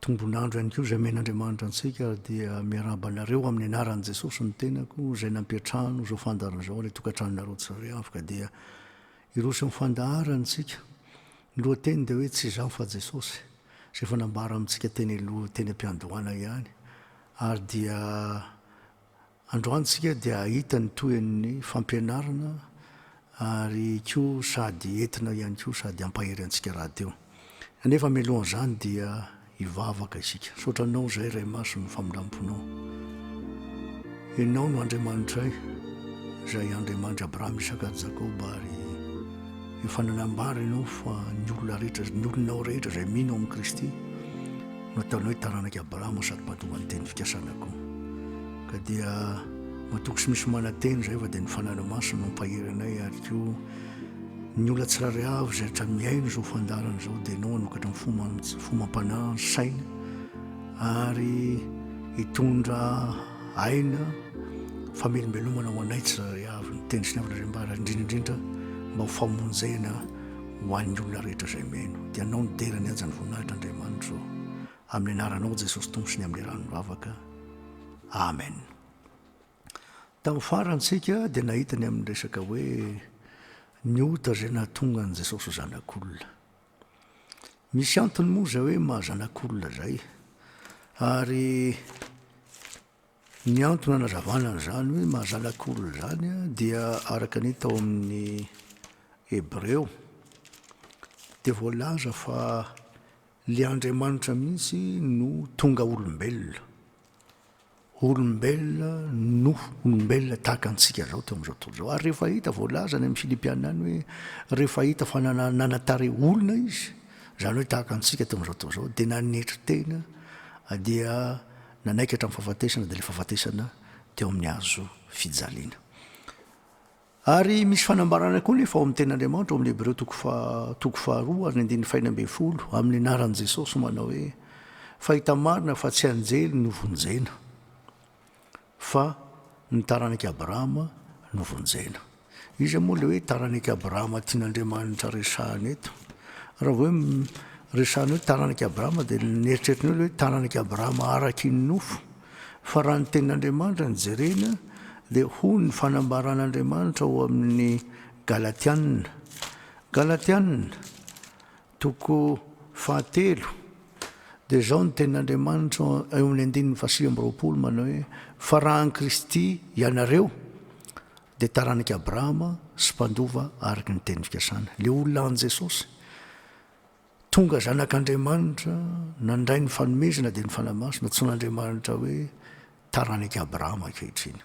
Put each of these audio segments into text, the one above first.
Tombon'andro ihany koa izay omen'Andriamanitra antsika ary dia miarahaba anareo amin'ny anaran'i Jesosy ny tenako izay nampiantrano izao fandaharana izao ary tokantranonareo tsirairay avy ka dia hiroso amin'ny fandaharana isika. Ny lohateny dia hoe tsy izaho fa Jesosy izay efa nambara amintsika teny aloha teny am-piandohana ihany ary dia Androany isika dia hahita ny tohin'ny fampianarana ary koa sady entina ihany koa sady hampahery antsika rahateo. Anefa mialohan'izany dia hivavaka isika. Misaotra Anao izay Ray Masina ny famindram-ponao. Ianao no Andriamanitray izay Andriamanitry Abrahama, Isaka ary Jakoba ary efa nanambara Ianao fa ny olona rehetra, ny olonao rehetra izay mino amin'i Kristy, Nataony hoe taranak'i Abrahama sady mpadoan'ny teny fikasana koa. Ka dia matoky sy misy mananteny izay fa dia ny fanana masina no mpahery anay ary koa ny olona tsirairay avy izay rehetra miaina izao fandarana izao dia ianao hanokatra ny fomba fomba am-panahy ny saina ary hitondra aina famelombelomana ho anay tsirairay avy ny teny sy ny avana izay mba indrindra indrindra mba ho famonjena ho an'ny olona rehetra izay meno, dia anao no dera ny hajan'ny voninahitra Andriamanitra ô. Amin'ny anaranao Jesosy Tompo sy ny amin'ny rano vavaka. Amen. Tamin'ny farantsika dia nahita ny amin'ny resaka hoe ny ota izay nahatonga an'i Jesosy ho zanak'olona. Misy antony moa izay hoe maha zanak'olona izay. Ary Ny antony anazavana an'izany hoe maha-zanak'olona izany dia araka ny hita ao amin'ny Hebreo dia voalaza fa ilay Andriamanitra mihitsy no tonga olombelona. Olombelona no olombelona tahaka antsika izao teo amin'izao tontolo izao. Ary rehefa hita, voalaza any amin'ny Filipiana any hoe rehefa hita fa nanan-tarehy olona izy, izany hoe tahaka antsika teo amin'izao tontolo izao, dia nanetry tena dia Nanaiky hatramin'ny fahafatesana dia ilay fahafatesana teo amin'ny hazo fijaliana. Ary misy fanambarana koa nefa ao amin'ny tenin'Andriamanitra ao amin'ny Hebreo toko faha toko faharoa ary ny andininy fahina ambin'ny folo amin'ny anaran'i Jesosy manao hoe fahita marina fa tsy anjely no vonjena fa ny taranak'i Abrahama no vonjena. Iza moa le hoe taranak'i Abrahama tian'Andriamanitra resahana eto? Raha vao hoe resahana hoe taranak'i Abrahama dia ny eritreritrinao le hoe taranak'i Abrahama araky ny nofo. Fa raha ny tenin'Andriamanitra no jerena dia hoy ny fanambaran'Andriamanitra ao amin'ny Galatiana, Galatiana, Toko fahatelo, Dia izao no tenin'Andriamanitra, eo amin'ny andininy fahasivy amby roapolo, manao hoe, Fa raha an'i Kristy ianareo, dia taranak'i Abrahama sy mpandova araka ny teny fikasana. Ilay olona an'i Jesosy, tonga zanak'Andriamanitra, nandray ny fanomezana dia ny Fanahy Masina, antsoin'Andriamanitra hoe taranak'i Abrahama ankehitriny.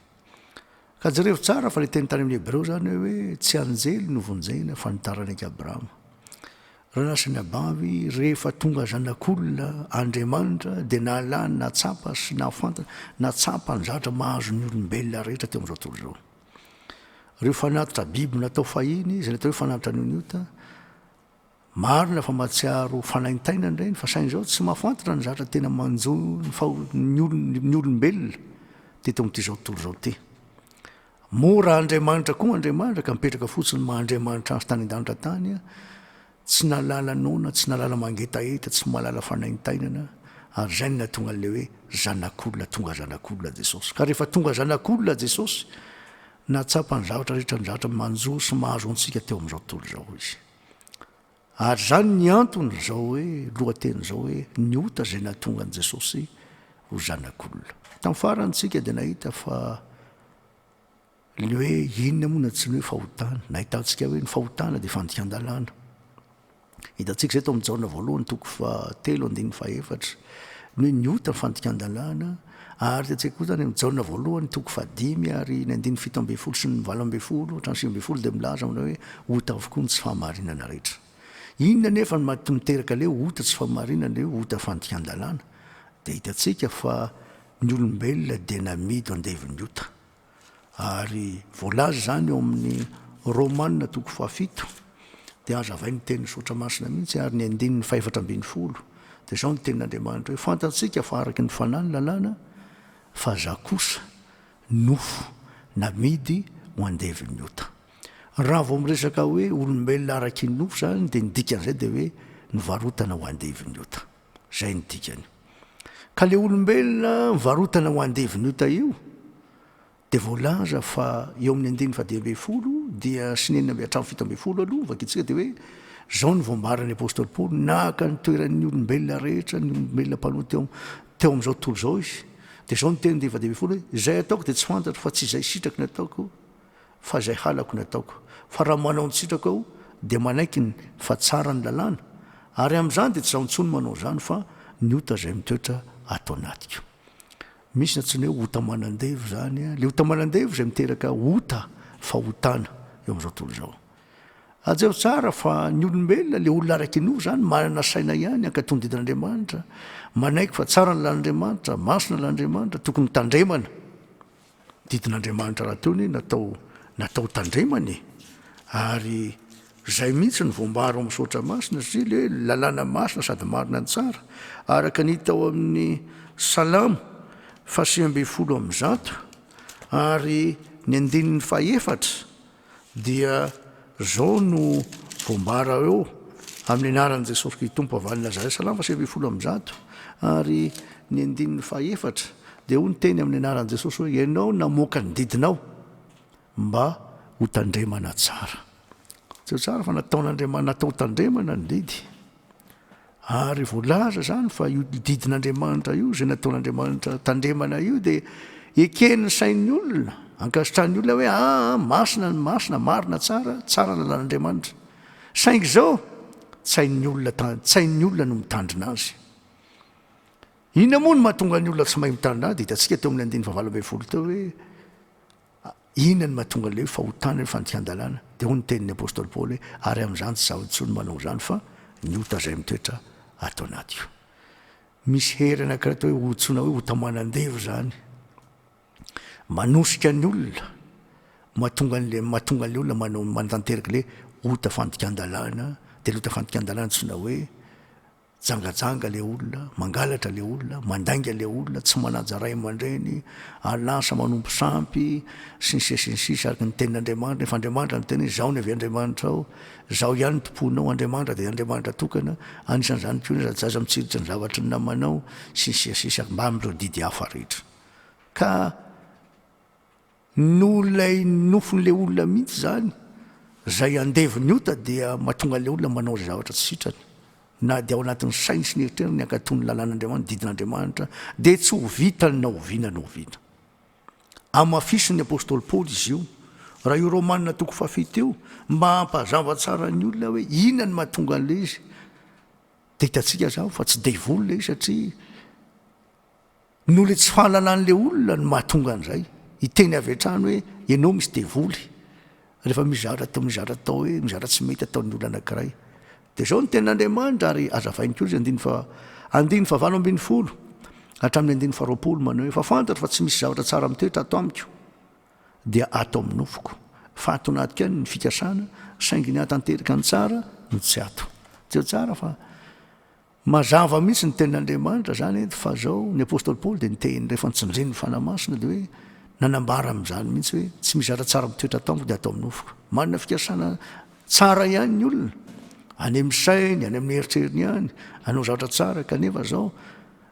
Ka jereo tsara fa le teny tany amin'ny Hebreo zany hoe tsy anjely no vonjena fa ny taranak'i Abrahama. Raha lasa ny abavy, rehefa tonga zanak'olona Andriamanitra dia nahalany, nahatsapa sy nahafantatra, nahatsapa ny zavatra mahazo ny olombelona rehetra teo amin'izao tontolo izao. Ireo fanatitra biby natao fahiny, izay natao hoe fanatitra ny oniota, Marina fa matsiaro fanaintainana ireny fa saingy izao tsy mafantatra ny zatra tena manjo ny faho ny olombelona teto amin'ity zao tontolo izao ity. Moa raha Andriamanitra koa Andriamanitra ka mipetraka fotsiny maha Andriamanitra azy tany an-danitra tany a, tsy nahalala noana, tsy nahalala mangetaheta, tsy mahalala fanaintainana ary izay no nahatonga an'ilay hoe zanak'olona tonga zanak'olona Jesosy. Ka rehefa tonga zanak'olona Jesosy, nahatsapa ny zavatra rehetra ny zavatra manjo sy mahazo antsika teo amin'izao tontolo izao izy. Ary izany ny antony izao hoe lohateny izao hoe ny ota izay nahatonga an'i Jesosy ho zanak'olona. Tamin'ny farany isika dia nahita fa ny hoe inona moa na tsy ny hoe fahotana. Nahitantsika hoe ny fahotana dia fandikan-dalàna. Hitantsika izay tao amin'ny Jaona voalohany toko fahatelo andininy fahefatra. Ny hoe ny ota ny fandikan-dalàna. Ary tetsy an-koho izany amin'ny Jaona voalohany toko fahadimy ary ny andininy fito ambin'ny folo sy ny valo ambin'ny folo hatramin'ny sivy ambin'ny folo dia milaza manao hoe ota avokoa ny tsy fahamarinana rehetra. Inona anefa no mety miteraka ilay ota tsy fahamarinana, ilay hoe ota fandikan-dalàna? Dia hitantsika fa ny olombelona dia namidy ho andevin'ny ota. Ary voalaza izany ao amin'ny Romana toko fahafito, dia hazavain' ny teny misaotra masina mihitsy ary ny andininy fahefatra ambin'ny folo, dia izao ny tenin' Andriamanitra hoe, Fantatsika fa araka ny fanahy ny lalàna, fa za kosa nofo namidy ho andevin' ny ota. Raha vao miresaka hoe olombelona araky ny nofo izany dia ny dikan'izay dia hoe nivarotana ho andevin' ny ota. Zay ny dikany. Ka le olombelona varotana ho andevin' ota io dia voalaza fa eo amin'ny andininy fahadimy ambin'ny folo dia sy ny enina amby hatramin'ny fito ambin'ny folo aloha vakitsika dia hoe zao ny voambaran'ny apostoly Paoly naka ny toeran'ny olombelona rehetra ny olombelona mpanoa teo teo amin'izao tontolo izao izy dia zao ny teny andininy fahadimy ambin'ny folo hoe izay ataoko dia tsy fantatro fa tsy izay sitraky ny ataoko Fa izay halako no ataoko. Fa raha manao ny sitrako aho, dia manaiky ny fa tsara ny lalàna, ary amin'izany dia tsy izaho intsony manao izany, fa ny ota izay mitoetra ato anatiko. Misy ny antsoina hoe ota manan-devo izany, ilay ota manan-devo izay miteraka ota, fahotana, eo amin'izao tontolo izao. Hajery tsara fa ny olombelona, ilay olona araka inoa izany, manana saina ihany, hankatò ny didin'Andriamanitra, manaiky fa tsara ny lalan'Andriamanitra, masina ny lalan'Andriamanitra, tokony hotandremana. Didin'Andriamanitra rahateo anie natao natao tandremana e! Ary zay mihitsy ny voambara ao amin'ny Soratra Masina, satria le lalàna masina sady marina tsara, araka ny hita ao amin'ny Salamo fahasivy ambin'ny folo amby zato ary ny andininy fahefatra, Dia zao no voambara eo, Amin'ny anaran'i Jesosy Kristy Tompo avy any Nazareth, salama sivy ambin'ny folo amby zato ary ny andininy faha efatra, dia hoy ny teny amin'ny anaran'i Jesosy hoe ianao namoaka ny didinao mba ho tandremana tsara. Jereo tsara fa nataon'Andriamanitra natao ho tandremana ny didy. Ary voalaza izany fa io didin'Andriamanitra io, izay nataon'Andriamanitra tandremana io, dia eken'ny sain'ny olona, ankasitrahan'ny olona hoe aa ah, ah, masina ny masina, marina tsara, tsara ny lalàn'Andriamanitra. Saingy izao, tsain'ny olona, tsain'ny olona no mitandrina azy. Inona moa no mahatonga ny olona tsy mahay mitandrina azy? Dia hitantsika teo amin'ny andininy fahavalo ambin'ny folo teo hoe Inona no mahatonga an'ilay hoe fahotana ny fandikan-dalàna? Dia hoy ny tenin'ny apostoly Paoly hoe, Ary amin'izany tsy izaho intsony manao izany, fa ny ota izay mitoetra ato anatiko. Misy hery anankiray atao hoe ota, antsoina hoe ota manan-devo izany. Manosika ny olona, mahatonga an'ilay mahatonga an'ilay olona manao manatanteraka ilay ota fandikan-dalàna, dia ilay ota fandikan-dalàna antsoina hoe Jangajanga le olona, mangalatra le olona, mandainga le olona, tsy manaja ray aman-dreny, ary lasa manompo sampy, sy ny sisa sy ny sisa, araka ny tenin'Andriamanitra, nefa Andriamanitra no tena hoe, Izaho no avy Andriamanitrao, Izaho ihany no tomponao, Andriamanitra dia Andriamanitra tokana, anisan'izany koa ny zajaza mitsiritry ny zavatry ny namanao, sy ny sisa sy ny sisa, mbamin'ireo didy hafa rehetra. Ka. No ilay nofon'ilay olona mihitsy izany, izay andevon'ny ota dia mahatonga an'ilay olona manao izay zavatra tsy sitrany. Na dia ao anatin'ny sainy sy ny eritreriny ny hankatò ny lalàn'Andriamanitra, ny didin'Andriamanitra, dia tsy ho vitany na oviana na oviana. Hamafisin'ny apostoly Paoly izy io, raha io Romana toko fahafito io, mba hampazava tsara ny olona hoe inona no mahatonga an'ilay izy. Dia hitantsika izany fa tsy devoly ilay izy satria, Noho le tsy fananan'le olona no mahatonga an'izay. Hiteny avy hatrany hoe ianao misy devoly rehefa mizara atao mizara atao hoe mizara tsy mety ataon'ny olona anankiray. Dia izao ny tenin'Andriamanitra ary hazavainy koa izy andininy fa andininy fahavalo ambin'ny folo hatramin'ny andininy faharoapolo manao hoe fa fantatro fa tsy misy zavatra tsara mitoetra ato amiko dia ato amin'ny nofoko fa ato anaty kainy ny fikasana saingy ny hahatanteraka ny tsara no tsy ato. Tsy tsara fa Mazava mihitsy ny tenin'Andriamanitra zany eto fa zao, ny apostoly Paoly dia niteny rehefa nitsindriny ny Fanahy Masina dia hoe nanambara amin'izany mihitsy hoe tsy misy zavatra tsara mitoetra ato amiko dia ato amin'ny nofoko. Manana fikasana tsara ihany ny olona, any amin'ny sainy, any amin'ny eritreriny ihany, hanao zavatra tsara kanefa zao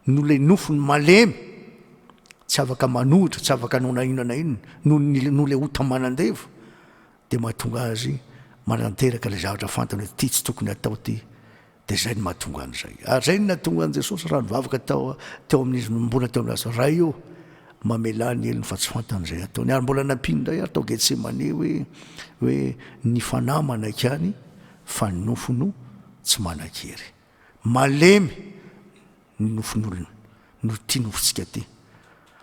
noho ilay nofony malemy tsy afaka manohitra, tsy afaka hanao na inona na inona, noho ny noho ilay ota manan-devo dia mahatonga azy mananteraka ilay zavatra fantany hoe ity tsy tokony atao ity. Dia izay no mahatonga an'izay. Ary izay no nahatonga an'i Jesosy raha nivavaka tao teo amin'izy no mbola teo amin'ny asa, Ray ô, mamelà ny helony fa tsy fantany izay ataony. Ary mbola nampiany indray ary tao Getsemane hoe, hoe ny fanahy manaiky any fa ny nofo no tsy manan-kery. Malemy ny nofon'olona, no tia nofontsika tia.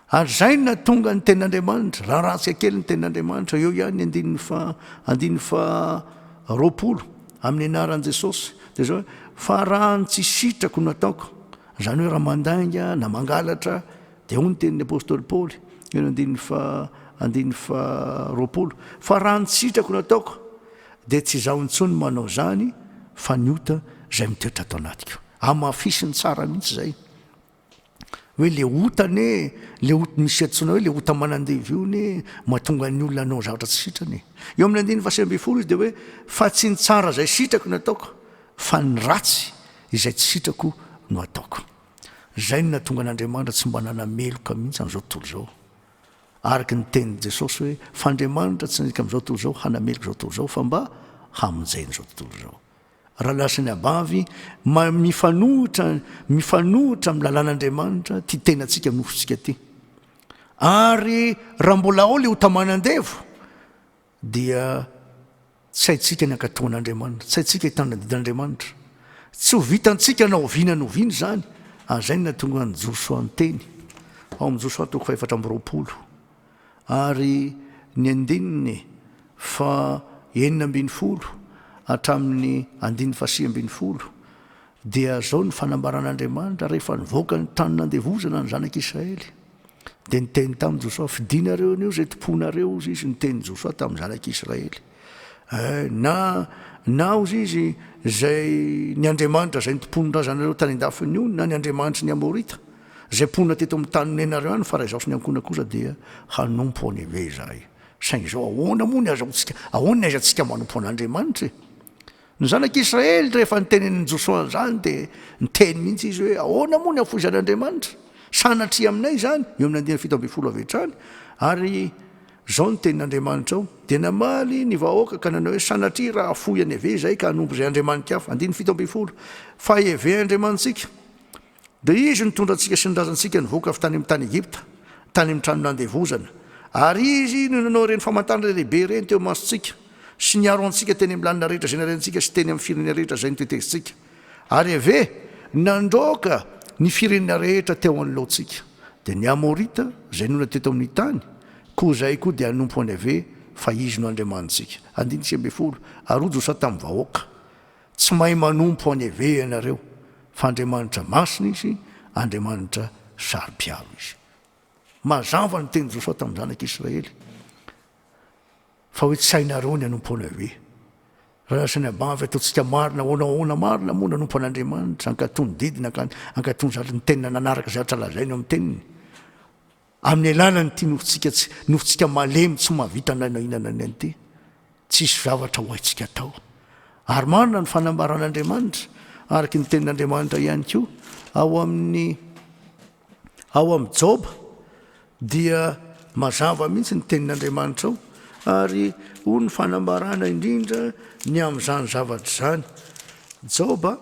Ary izay na tonga ny tenin'Andriamanitra, raha ratsika kely ny tenin'Andriamanitra, eo ihany ny andininy fa andininy fa roapolo amin'ny anaran'i Jesosy, dia izao hoe fa raha ny tsy sitrako no ataoko, izany hoe raha mandainga na mangalatra, Dia hoy ny tenin'ny apostoly Paoly, eo amin'ny andininy faha, andininy faha roapolo, Fa raha ny sitrako no ataoko, dia tsy izaho intsony manao izany, fa ny ota izay mitoetra ato anatiko. Hamafisiny tsara mihitsy izay. Hoe le ota anie, le ota misy antsoina hoe le ota manandevo io anie, mahatonga ny olona hanao zavatra tsy sitrany. Eo amin'ny andininy faha sivy ambin'ny folo izy dia hoe, Fa tsy ny tsara izay sitrako no ataoko, fa ny ratsy izay tsy sitrako no ataoko. Izay no nahatonga an'Andriamanitra tsy mba nanana meloka mihitsy amin'izao tontolo izao. Araka ny tenin'i Jesosy hoe, Fa Andriamanitra tsy nandika amin'izao tontolo izao hanameloka izao tontolo izao, fa mba hamonjena izao tontolo izao. Raha lasany abavy, ma- mifanohitra, mifanohitra amin'ny lalàn'Andriamanitra ity tenantsika nofotsika ity. Ary raha mbola ao ilay ota manan-devo, dia tsy haintsika ny hankatoan'Andriamanitra, tsy haintsika hitana didin'Andriamanitra. Tsy ho vitantsika na oviana na oviana izany, ary izay no nahatonga an'i Josoa niteny ao amin'ny Josoa toko fahefatra amby roapolo ary ny andininy fa enina ambin'ny folo hatramin'ny andininy fa sivy ambin'ny folo dia zao ny fanambaran'Andriamanitra rehefa nivoaka ny tany nandevozana ny zanak'Israely. Dia niteny tamin'i Josoa, Fidinareo anio izay tomponareo, hozy izy, niteny Josoa tamin'ny zanak'Israely. Eh, na, na, hozy izy, izay ny Andriamanitra izay nitompony razanareo tany an-dafin'ny ony, na ny Andriamanitry ny Amorita, izay mponina teto amin'ny tany nonenareo any, fa raha izaho sy ny ankohonako kosa dia hanompo an'i Yaveh izahay. Saingy izao, ahoana moa ny azahoantsika, ahoana ny aizantsika manompo an'Andriamanitra e? Ny zanak'Israely rehefa notenenin'i Josoa an'izany dia niteny mihitsy izy hoe, Ahoana moa ny hafoizan'Andriamanitra? Sanatria aminay izany? Eo amin'ny andiany fito ambin'ny folo avy hatrany ary izao ny tenin'Andriamanitra ao. Dia namaly ny vahoaka ka nanao hoe, Sanatria raha hafoy anay ve izahay ka hanompo izay andriamani-kafa? Andininy fito ambin'ny folo. Fa heveandriamanitsika. Dia Izy nitondra antsika sy ny razantsika nivoaka avy tany amin'ny tany Egypta, tany amin'ny trano nandevozana. Ary Izy no nanao ireny famantarana lehibe ireny teo imasontsika, sy niaro antsika teny amin'ny lalana rehetra izay nalehantsika sy teny amin'ny firenena rehetra izay notetezintsika. Ary Iaveh nandroaka ny firenena rehetra teo anoloantsika. Dia ny Amorita, izay nona teto amin'ny tany, koa izay koa dia hanompo an'i Iaveh, fa Izy no Andriamanitsika. Andininy sivy ambin'ny folo. Ary hoy Josoa tamin'ny vahoaka. Tsy mahay manompo any ve ianareo fa Andriamanitra masina izy, Andriamanitra saro-piaro izy. Mazava ny tenin'i Josoa tamin'ny zanak'Israely fa hoe tsy hainareo ny hanompo anay ve? Raha lasa ny abavy ataontsika marina ahoana ahoana marina moa nanompo an'Andriamanitra, ankatoa ny didiny, ankatoa ny zatra, ny tenina nanaraka izay zatra lazainy ao amin'ny teniny. Amin'ny alalan'ity nofontsika tsy nofontsika malemy tsy mahavita na inona na inona ity, tsisy zavatra ho haintsika atao. Ary marina ny fanambaran'Andriamanitra, araka ny tenin'Andriamanitra ihany koa, ao amin'ny ao amin'ny Joba, dia mazava mihitsy ny tenin'Andriamanitra ao, ary hoy ny fanambarana indrindra ny amin'izany zavatra izany, Joba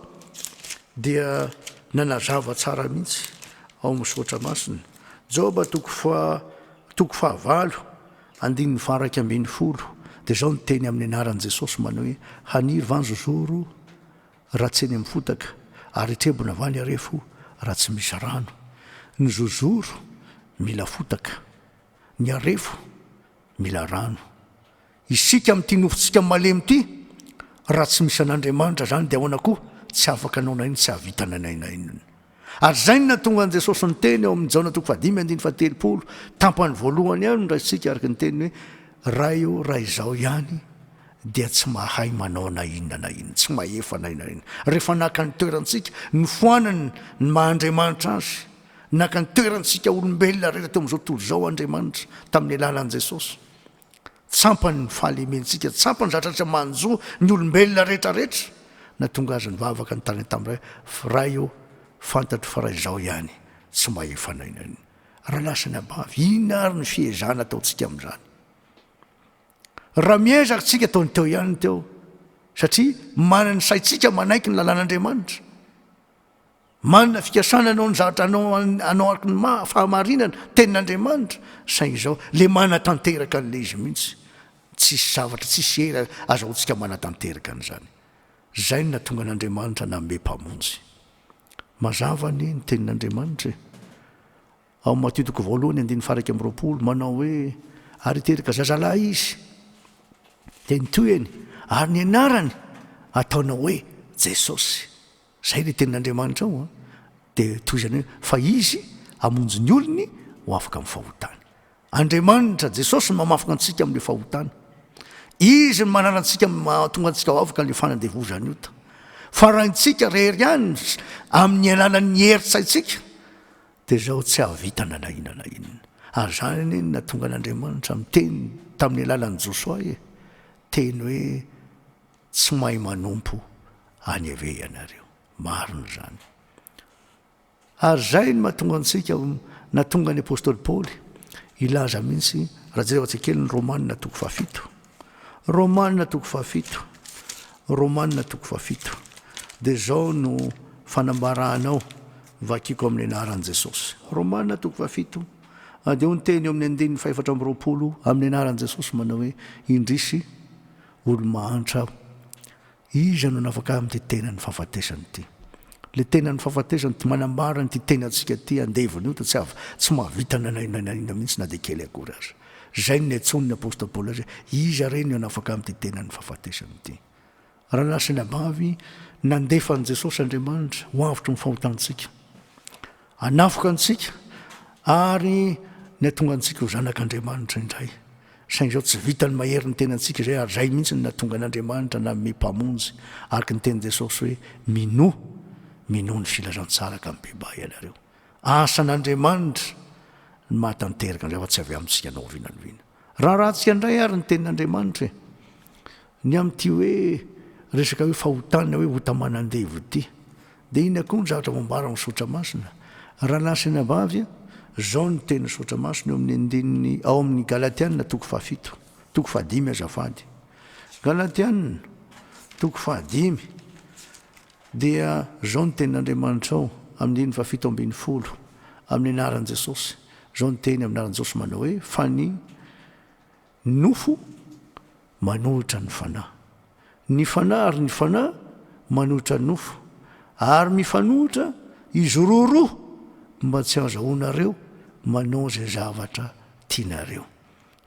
dia nanazava tsara mihitsy ao amin'ny Soratra Masina. Joba toko fa toko fahavalo andininy faha-raika ambin'ny folo dia izao no teny amin'ny anaran'i Jesosy manao hoe, Haniry va ny zozoro raha tsy eny amin'ny fotaka, ary hitrebona va ny harefo raha tsy misy rano? Ny zozoro mila fotaka, ny harefo mila rano. Isika amin'ity nofontsika malemy ity, raha tsy misy an'Andriamanitra izany dia ahoana koa? Tsy afaka hanao nainona, tsy hahavita na inona na inona. Ary izay no nahatonga an'i Jesosy niteny ao amin'ny Jaona toko fahadimy andininy fahatelopolo, tampany voalohany ihany no raisintsika araka ny teniny hoe, Ray ô, raha izaho ihany dia tsy mahay manao na inona na inona, tsy mahefa na inona na inona. Rehefa naka ny toerantsika, nofoanany ny maha Andriamanitra Azy, naka ny toerantsika olombelona rehetra teo amin'izao tontolo izao Andriamanitra tamin'ny alalan'i Jesosy. Tsampany ny fahalementsika, tsampany zatratra manjo ny olombelona rehetra rehetra na tonga aza nivavaka ny tany tam ray fa ray ô fantatro fa ray zao ihany tsy mahefa na inona na inona raha lasa ny abavy inona ary ny fiezahana ataontsika amin'izany raha miezaka tsika tao ny teo ihany teo satria manany saintsika manaiky ny lalàn'andriamanitra Manana fikasana hanao ny zavatra anao anao araka ny maha fahamarinana tenin'Andriamanitra, saingy izao le manatanteraka an'le izy mihitsy, tsisy zavatra tsisy hery azahoantsika manatanteraka an'izany. Zay no nahatonga an'Andriamanitra nanome mpamonjy. Mazava anie ny tenin'Andriamanitra e. Ao amin'ny Matio toko voalohany andininy faharaika amby roapolo manao hoe ary hiteraka zazalahy izy dia ny tohiny ary ny anarany ataonao hoe Jesosy. Izay ilay tenin'Andriamanitra ao an! Dia tohizany hoe, fa Izy hamonjy ny olony ho afaka amin'ny fahotany. Andriamanitra, Jesosy no mamafina antsika amin'ilay fahotana. Izy no manala antsika, mahatonga antsika ho afaka ilay fanandevozan'ny ota. Fa raha intsika irery ihany, amin'ny alalan'ny herin-tsaintsika, dia izao tsy hahavita na na inona na inona. Ary izany anie no nahatonga an'Andriamanitra miteny tamin'ny alalan'i Josoa e! Teny hoe, Tsy mahay manompo any ve ianareo? Marina izany. Ary izay no mahatonga antsika, nahatonga ny apostoly Paoly hilaza mihitsy, raha jereo antsika kely ny Romanina toko fahafito. Romanina toko fahafito. Romanina toko fahafito. Dia izao no fanambarana ao, vakiko amin'ny anaran'i Jesosy. Romanina toko fahafito. Dia ho ny teny eo amin'ny andininy fahefatra amby roapolo amin'ny anaran'i Jesosy manao hoe, indrisy, Olo-mahantra aho. Iza no nafaka amin'ity tenan'ny fahafatesana ity? Ilay tenan'ny fahafatesana ity manambara an'ity tenantsika ity andevona io, dia tsy avy, tsy mahavita na inona na inona mihitsy na dia kely akory aza. Izay no niantsoan'ny apostoly Paoly azy hoe, Iza re no hanafaka amin'ity tenan'ny fahafatesana ity? Raha lasa ny abavy, nandefa an'i Jesosy Andriamanitra ho avotry ny fahotantsika. Hanafoka antsika ary ny hahatonga antsika ho zanak' Andriamanitra indray. Saingy izao tsy vitan'ny mahery ny tenantsika izay ary izay mihitsy no nahatonga an' Andriamanitra nanome Mpamonjy, araka ny tenin'i Jesosy hoe, Minoa, minoa ny filazantsara ka mibebà ianareo. Asan' Andriamanitra ny mahatanteraka an'izay fa tsy avy amintsika na oviana na oviana. Raharahantsika indray ary ny tenin'Andriamanitra e! Ny amin'ity hoe resaka hoe fahotana hoe ota aman'andevo ity dia inona koa ny zavatra voambara ao amin'ny Soratra Masina? Rahalahy sy anabavy, izao no tenin'ny Soratra Masina eo amin'ny andininy ao amin'ny Galatiana toko fahafito, toko fahadimy azafady. Galatiana, toko fahadimy. Dia izao ny tenin'Andriamanitrao, amin'ny andininy fahafito ambin'ny folo, amin'ny anaran'i Jesosy, izao ny teny amin'ny anaran'i Jesosy manao hoe, fa ny nofo manohitra ny fanahy, ny fanahy ary ny fanahy manohitra ny nofo, ary mifanohitra izy roa roa mba tsy hahazahoanareo manao izay zavatra tianareo.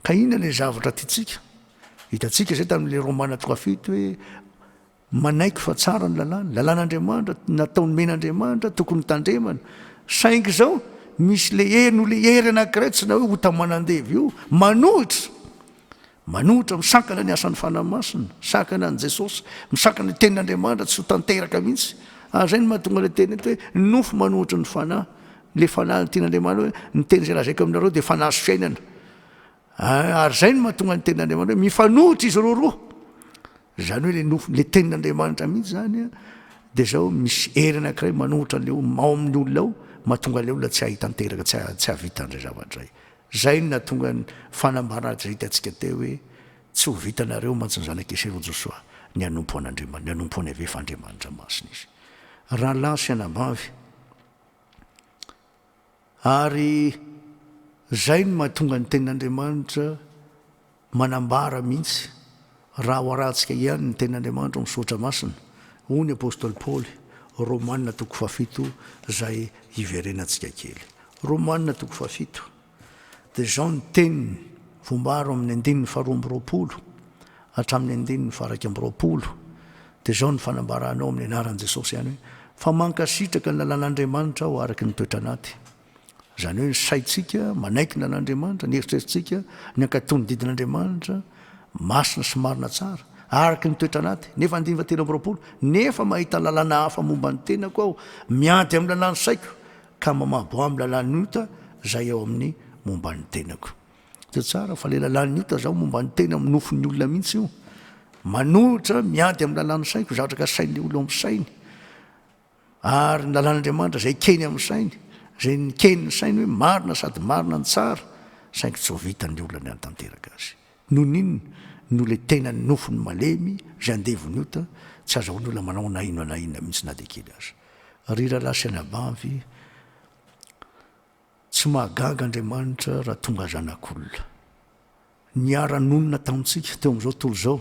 Ka inona ilay zavatra tiantsika? Hitantsika izay tamin'ilay Romana toko fahafito hoe, Manaiky fa tsara ny lalàny, lalàn'Andriamanitra, natao nomena Andriamanitra, tokony tandremana. Saingy izao, misy le hery no le hery anankiray tsy na hoe ota manandevo io, manohitra, manohitra, misakana ny asan'ny Fanahy Masina, misakana an'i Jesosy, misakana ny tenin'Andriamanitra, tsy ho tanteraka mihitsy. Ary izay no mahatonga le teny eto hoe nofo manohitry ny Fanahy. Le Fanahy ny tian'Andriamanitra hoe ny teny izay lazaiko aminareo dia Fanahy sy fiainana. Ary izay no mahatonga ny tenin'Andriamanitra hoe mifanohitra izy roa roa. Izany hoe ilay nofon' ilay tenin' Andriamanitra mihitsy izany dia izao, misy hery anankiray manohitra an'ilay olona, ao amin'ny olona ao, mahatonga ilay olona tsy hahay tanteraka, tsy hahay, tsy hahavita an'izay zavatra izay. Izay no nahatonga ny fanambarana izay hitantsika teo hoe, Tsy ho vitanareo mantsy ny zanak'i Ese ro Josoa, ny hanompo an'Andriamanitra, ny hanompo an'i Yaveh fa Andriamanitra masina izy. Rahalahy sy anabavy, Ary izay no mahatonga ny Tenin'Andriamanitra manambara mihitsy, Raha ho arahantsika ihany ny Tenin'Andriamanitra ao amin'ny Soratra Masina, hoy ny apostoly Paoly, Romana toko fahafito, izay hiverenantsika kely. Romana toko fahafito. Dia izao ny teniny, vombaro amin'ny andininy faharoa amby roapolo hatramin'ny andininy faharaika amby roapolo, dia izao ny fanambarany ao amin'ny anaran'i Jesosy ihany hoe, Fa mankasitraka ny lalàn'Andriamanitra aho araka ny toetra anaty. Izany hoe ny saintsika manaiky ny lalàn'Andriamanitra, ny eritreritrintsika, ny hankatò ny didin'Andriamanitra masina sy marina tsara, araka ny toetra anaty. Nefa andininy fahatelo amby roapolo, Nefa mahita lalàna hafa momba ny tenako aho, miady amin'ny lalàn'ny saiko, ka mamabo am lalàn'ny ota zay eo amin'ny momba ny tenako de tsara fa le lalàn'ny ota zao momba ny tena amin'ny nofon'ny olona mihitsy io manohitra miady amin'ny lalàn'ny saiko zatraka sain'le olo amin'ny sainy ary ny lalàn'andriamanitra zay keny amin'ny sainy zay nikeny ny sainy hoe marina sady marina ny tsara saingy tsy ho vitan'ny olona ny antanteraka azy Nonin no le tenany nofony malemy zay andevony ota tsy azahoany olona manao na inona na inona mintsy na de kely aza ry ralahy sy anabavy tsy mahagaga Andriamanitra raha tonga zanak'olona niara nonina tamintsika teo amzao tontolo zao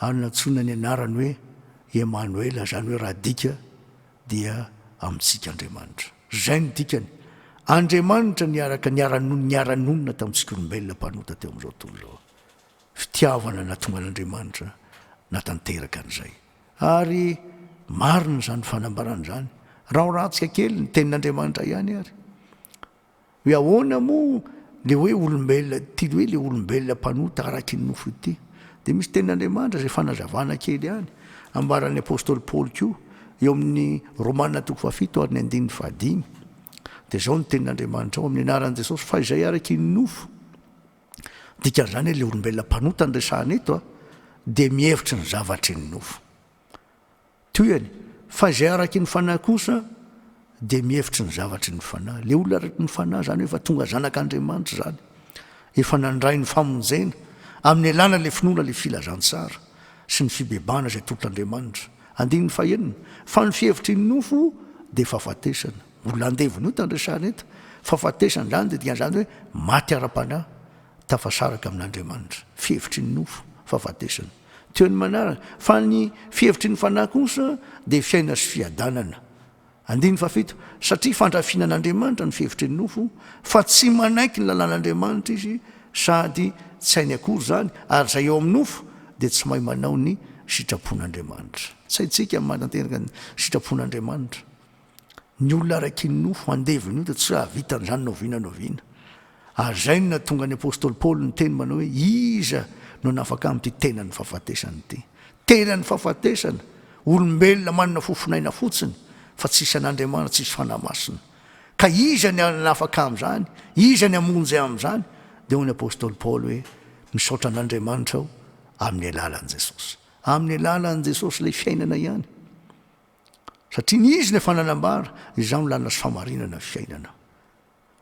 ary nantsoina ny anarany hoe Emanoela, izany hoe raha adika dia Amintsika Andriamanitra. Izay no dikany. Andriamanitra niaraka niara-nony niara-nonina tamintsika olombelona mpanota teo amin'izao tontolo izao. Fitiavana nahatonga an'Andriamanitra natanteraka an'izay. Ary marina izany fanambarana izany. Rahorantsika kely ny Tenin'Andriamanitra ihany ary. Hoe ahoana moa le hoe olombelona ty hoe le olombelona mpanota araky ny nofo ity? Dia misy tenin'Andriamanitra izay fanazavana kely ihany ambaran'ny apostoly Paoly koa eo amin'ny Romana toko fahafito ary ny andininy fahadimy. Dia izao ny tenin'Andriamanitra ao amin'ny anaran'i Jesosy fa izay araky ny nofo, dikan'izany hoe le olombelona mpanota no resahana eto a, dia mihevitra ny zavatry ny nofo. Tohiny, Fa izay araky ny fanahy kosa dia mihevitry ny zavatry ny fanahy. Ilay olona araky ny fanahy izany hoe efa tonga zanak'Andriamanitra izany, efa nandray ny famonjena, amin'ny alalan'ilay finoana ilay filazantsara sy ny fibebahana izay tolotr'Andriamanitra. Andininy fahenina, Fa ny fihevitry ny nofo dia fahafatesana. Mbola andevona io tandresana eto. Fahafatesana izany dia dikan'izany hoe maty ara-panahy, tafasaraka amin'Andriamanitra. Fihevitry ny nofo, fahafatesana. Teo ny manaraka. Fa ny fihevitry ny Fanahy kosa dia fiainana sy fiadanana. Andininy fahafito, Satria fandrafiana an'Andriamanitra ny fihevitry ny nofo, fa tsy manaiky ny lalàn'Andriamanitra izy, sady tsy hainy akory izany, ary izay ao amin'ny nofo dia tsy mahay manao ny sitrapon'Andriamanitra. Tsy haintsika ny manatanteraka ny sitrapon'Andriamanitra. Ny olona araka ny nofo andevony io dia tsy hahavita an'izany na oviana na oviana. Ary izay no nahatonga ny apostoly Paoly niteny manao hoe, Iza no hanafaka amin'ity tenan'ny fahafatesana ity? Tenan'ny fahafatesana, olombelona manana fofonaina fotsiny, fa tsisy an'Andriamanitra, tsisy Fanahy Masina. Ka iza ny hanafaka amin'izany? Iza ny hamonjy amin'izany? Dia hoy ny apostoly Paoly hoe, Misaotra an'Andriamanitra aho amin'ny alalan'i Jesosy. Amin'ny alalan'i Jesosy ilay fiainana ihany. Satria ny Izy no efa nanambara, Izaho no lanina sy famarinana ny fiainana.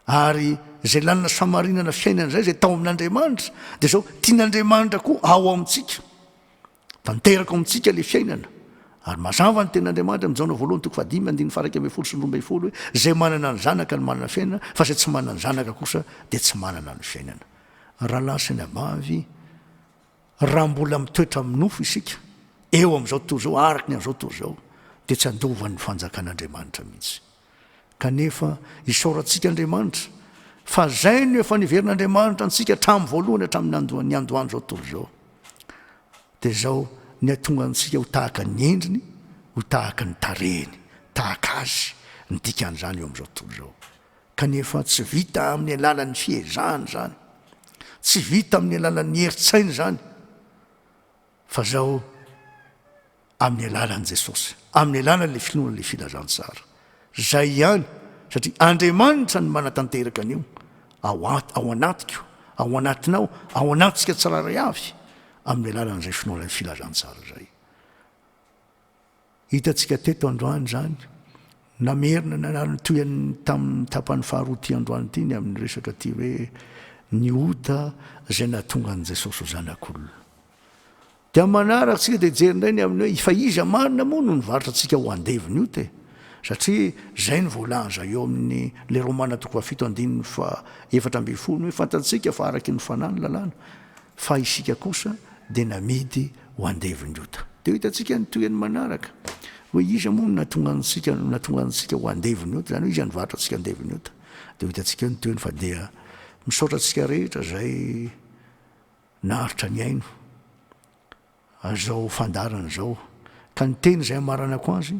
Ary izay lanina sy famarinana fiainana izay, izay tao amin'Andriamanitra, dia izao, tian'Andriamanitra koa ao amintsika. Tanteraka ao amintsika ilay fiainana. Ary mazava ny tenin'Andriamanitra amin'ny Jaona voalohany toko fahadimy andininy faharaika ambin'ny folo sy ny roa ambin'ny folo hoe, Izay manana ny Zanaka no manana ny fiainana, fa izay tsy manana ny Zanaka kosa dia tsy manana ny fiainana. Rahalahy sy anabavy, Raha mbola mitoetra amin'ny nofo isika, eo amin'izao tontolo izao, araka ny amin'izao tontolo izao, dia tsy handovan'ny Fanjakan'Andriamanitra mihitsy. Kanefa, isaorantsika Andriamanitra, fa izay no efa niverin'Andriamanitra antsika hatramin'ny voalohany hatramin'ny niandohan'izao tontolo izao. Dia izao, ny hahatonga antsika ho tahaka ny endriny, ho tahaka ny tarehiny, tahaka Azy, ny dikan'izany eo amin'izao tontolo izao. Kanefa tsy vita amin'ny alalan'ny fiezahana izany, tsy vita amin'ny alalan'ny herin-tsaina izany, fa izao amin'ny alalan'i Jesosy, amin'ny alalan'ilay finoana ilay filazantsara. Izay ihany, satria Andriamanitra no manatanteraka an'io ao at- ao anatiko, ao anatinao, ao anatsika tsirairay avy, amin'ny alalan'izay finoana ny filazantsara izay. Hitantsika teto androany izany. Namerina nanary ny tohiny tamin'ny tapany faharoa ity androany ity ny amin'ny resaka ity hoe ny ota izay nahatonga an'i Jesosy ho Zanak'olona. Dia amin'ny manaraka isika dia hijery indray ny amin'ny hoe fa iza marina moa no nivarotra antsika ho andevon'ny ota e? Satria izay no voalaza eo amin'ny le Romana toko fahafito andininy fahaefatra ambin'ny folo hoe fantatsika fa araky ny fanahy ny lalàna. Fa isika kosa dia namidy ho andevon'ny ota. Dia ho hitantsika ny tohiny manaraka, hoe iza moa no nahatonga antsika no nahatonga antsika ho andevon'ny ota, izany hoe iza nivarotra antsika andevon'ny ota. Dia ho hitantsika eo ny tohiny, fa dia misaotra antsika rehetra izay naharitra nihaino. Izao fandaharana izao. Ka ny teny izay hamaranako azy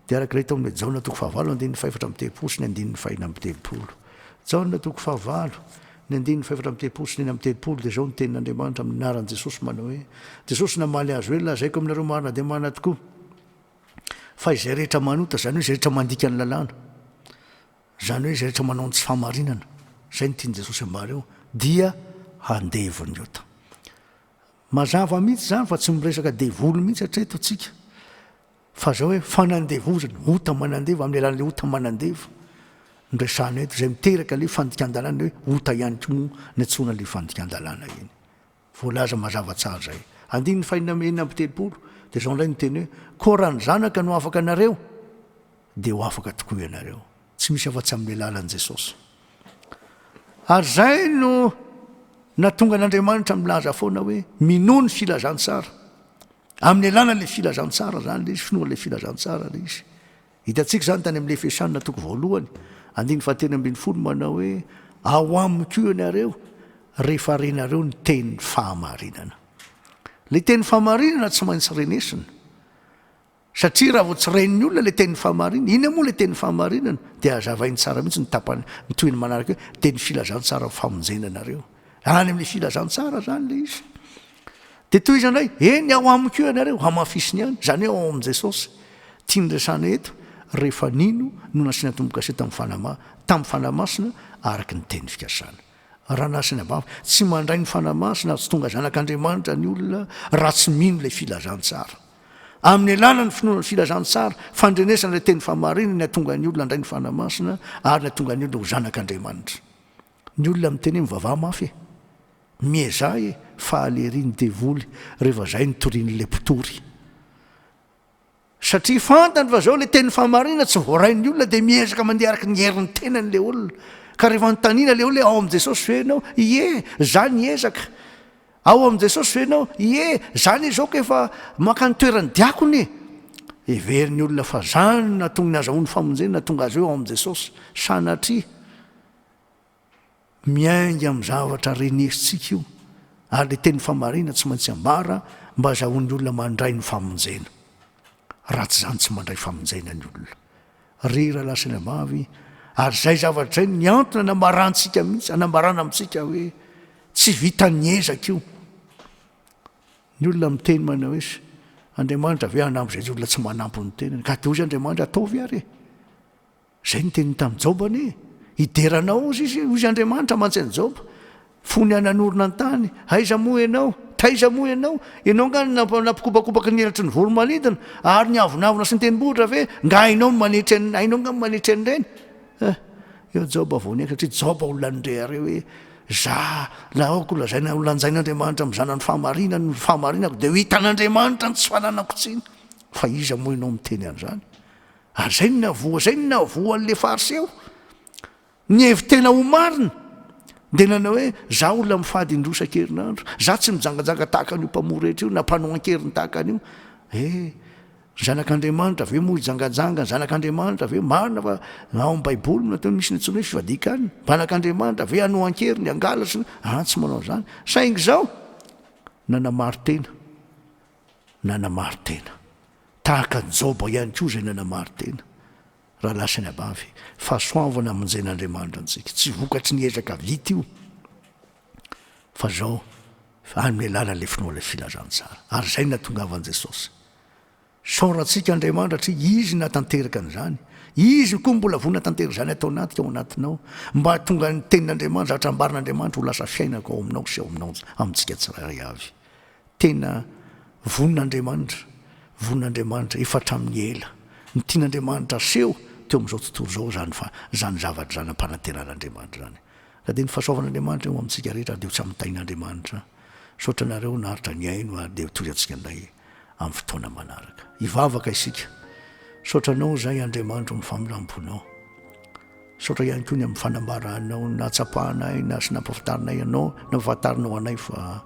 dia araka ilay tao amin'ilay Jaona toko fahavalo andininy fahefatra amby telopolo sy ny andininy fahena amby telopolo. Jaona toko fahavalo, ny andininy fahefatra amby telopolo sy ny enina amby telopolo dia izao ny tenin'Andriamanitra amin'ny anaran'i Jesosy manao hoe, Jesosy namaly azy hoe, Lazaiko aminareo marina dia marina tokoa, fa izay rehetra manota, izany hoe izay rehetra mandika ny lalàna, izany hoe izay rehetra manao ny tsy fahamarinana, izay no tian'i Jesosy ambara eo, dia handevo ny ota. Mazava mihitsy izany fa tsy miresaka devoly mihitsy hatreto isika fa izao hoe fanandevozana, ota manandeva amin'ny alalan'ilay ota manandeva no resahana eto izay miteraka ilay fandikan-dalàna hoe ota ihany koa moa no antsoina ilay fandikan-dalàna iny. Voalaza mazava tsara izay. Andininy fahenina enina amby telopolo dia izao indray ny teny hoe koa raha ny zanaka no afaka anareo Dia ho afaka tokoa ianareo. Tsy misy afa-tsy amin'ny alalan'i Jesosy. Ary izay no nahatonga an'Andriamanitra milaza foana hoe, minoa ny filazantsara. Amin'ny alalan'ilay filazantsara izany ilay izy, finoan'ilay filazantsara ilay izy. Hitantsika izany tany amin'ny Efesiana toko voalohany, andininy fahatelo ambin'ny folo manao hoe, ao aminy koa ianareo rehefa renareo ny tenin'ny fahamarinana. Ilay tenin'ny fahamarinana tsy maintsy renesina. Satria raha vao tsy ren'ny olona ilay teny fahamarinana, inona moa ilay teny fahamarinana? Dia hazavainy tsara mihitsy ny tapany, ny tohiny manaraka hoe, dia ny filazantsaran'ny famonjena anareo. Any amin'ny filazantsara izany ilay izy. Dia tohizany indray, eny ao amiko eo ianareo, hamafisiny ihany, izany hoe ao amin'i Jesosy. Tiany resahana eto, rehefa nino no nasiana tombo-kase tamin'ny fanahy ma, tamin'ny fanahy masina araka ny teny fikasana. Raha nasiana babo, tsy mandray ny fanahy masina ary tsy tonga zanak'Andriamanitra ny olona raha tsy mino ilay filazantsara. Amin'ny alalan'ny finoana ny filazantsara, fandrenesana ilay teny fahamarinana ny hatonga ny olona handray ny Fanahy Masina ary ny hatonga ny olona ho zanak'Andriamanitra. Ny olona miteny hoe mivavaha mafy e! Miezaha e! Fahalerin'ny devoly rehefa izay no torian'ilay mpitory. Satria fantany fa izao ilay teny fahamarinana tsy voarain'ny olona dia miezaka mandeha araka ny herin'ny tenany ilay olona. Ka rehefa anontaniana ilay olona hoe ao amin'i Jesosy ve ianao? Ie, izaho niezaka. Ao amin'i Jesosy ve ianao? Ie, izaho anie izao ka efa mankany toeran'ny diakona e! Heverin'ny olona fa izany no nahatonga ny hazahoany famonjena, nahatonga azy ireo ao amin'i Jesosy. Sanatria! Miainga amin'ny zavatra renesintsika io, ary ilay teny famarina tsy maintsy ambara mba hazahoan'ny olona mandray ny famonjena. Ratsy izany tsy mandray famonjena ny olona rehery alasy any ambavy ary izay zavatra izay ny antony anambarantsika mihitsy anambarana amintsika hoe tsy vitan'ny ezaka io ny olona miteny manao hoe Andriamanitra ve hanambo izay olona tsy manampy ny tenany ka dia hoy izy Andriamanitra ataovy ary e Izay no teniny tamin'i Joba anie, Hidera anao hoy izy, hoy Andriamanitra mantsy an'i Joba, fony aho nanorina ny tany, aiza moa ianao? Taiza moa ianao? Ianao angaha no nampikopakopaky ny elatry ny voromanidina, ary ny avonavona sy ny tendrombohitra ve? Angaha hainao ny manetry an'i, hainao angaha ny manetry an'ireny? Eh! Eo Joba vao niaiky, satria Joba olona nirehare hoe, Za, na aoka holazaina, holanjain'Andriamanitra amin'ny zanany fahamarinany ny fahamarinako, dia ho hitan'Andriamanitra ny tsy fananako tsiny, fa iza moa ianao miteny an'izany? Ary izay no nihavoa, izay no nihavoa an'ilay Fariseo. Nihevi-tena ho marina, dia nanao hoe, Izaho olona mifady indroa isan-kerinandro. Izaho tsy mijangajanga tahaka an'io mpamoa rehetra io, na mpanao an-keriny tahaka an'io. He, ry zanak'Andriamanitra ve moa hijangajanga? Ny zanak'Andriamanitra ve? Marina fa ao amin'ny Baiboly no ataony, misy ny antsoina hoe fifadian-kanina. Ny zanak'Andriamanitra ve hanoa an-keriny, hangalatra? An, tsy manao an'izany. Saingy izao, nanamari-tena. nanamari-tena. Tahaka an'i Joba ihany koa izay nanamari-tena, raha lasa ny abavy. Fahasoavana hamonjen'Andriamanitra antsika. Tsy vokatry ny ezaka vita io, fa izao, amin'ny alalan'ilay finoan'ilay filazantsara. Ary izay no nahatongavan'i Jesosy. Isaorantsika Andriamanitra satria Izy no nahatanteraka an'izany. Izy koa mbola vonona hatanteraka izany ato anatika, ao anatinao, mba hahatonga ny Tenin'Andriamanitra, zavatra ambaran'Andriamanitra, ho lasa fiainako ao aminao sy ao aminao, amintsika tsirairay avy. Tena vonin'Andriamanitra, vonin'Andriamanitra efa hatramin'ny ela. Ny tian'Andriamanitra haseho teo amin'izao tontolo izao izany fa izany zavatra izany ampanantenan'Andriamanitra izany. Raha dia ny fahasoavan'Andriamanitra eo amintsika rehetra ary dia ho tsy amin'ny tahin'Andriamanitra. Misaotra anareo naharitra nihaino ary dia toy antsika indray amin'ny fotoana manaraka. Hivavaka isika. Misaotra anao izahay Andriamanitra amin'ny familam-ponao. Misaotra ihany koa ny amin'ny fanambaranao ny nahatsapanay na sy nampafantarinay anao, nampafantarinao anay fa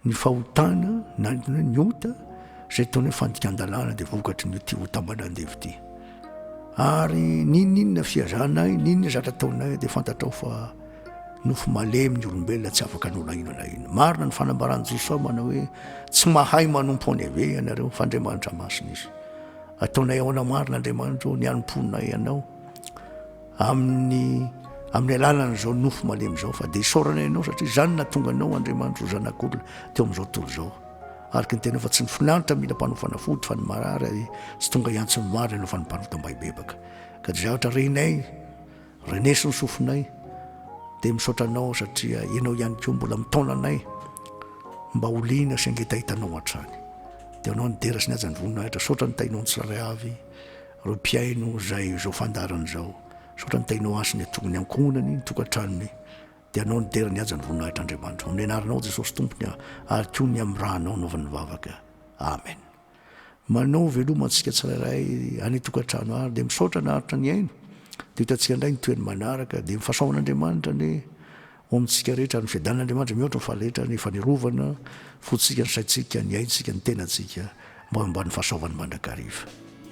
ny fahotana na ny ny ota izay ataonao hoe fandikan-dalàna dia vokatry ny ity ota ambana andevo ity. Ary n'inon'inona fihazanay, n'inon'inona zatra ataonay dia fantatrao fa nofo malemy ny olombelona tsy afaka hanao na inona na inona. Marina ny fanambaran'i Jesoa manao hoe tsy mahay manompo any ave ianareo fa Andriamanitra masina izy. Ataonay ahoana marina Andriamanitro ny hanompoanay Anao amin'ny amin'ny alalan'izao nofo malemy izao fa dia isaorana Ianao satria izany nahatonga Anao Andriamanitro zanak'olona teo amin'izao tontolo izao. Araka ny Tenao fa tsy ny finaritra mila mpanao fanafody fa ny marary ary tsy tonga hiantso ny marina Ianao fa ny mpanota mba hibebaka. Ka dia zavatra renay Reneso ny sofinay dia misaotra anao satria ianao ihany koa mbola mitaona anay mba ho liana sy angetahitanao hatrany dia anao ny dera sy ny hajan'ny voninahitra saotra ny tainao ny tsirairay avy ireo mpiaino izay izao fandaharana izao saotra ny tainao asy ny atongony ankohonany ny tokantranony dia anao ny dera ny hajan'ny voninahitra andriamanitra amin'ny anaranao jesosy tompony ary koa ny amin'ny rahanao naovan'ny vavaka amen Manao veloma antsika tsirairay any tokantrano ary dia misaotra naharitra nihaino dia hitantsika indray ny tohiny manaraka dia mifasaohan'Andriamanitra anie ho amintsika rehetra ary ny fiadanan'Andriamanitra mihoatra ny faharehetra ny fanerovana fontsika ny saintsika ny aintsika ny tenantsika mba ho ambanin'ny fahasaovany mandrakariva.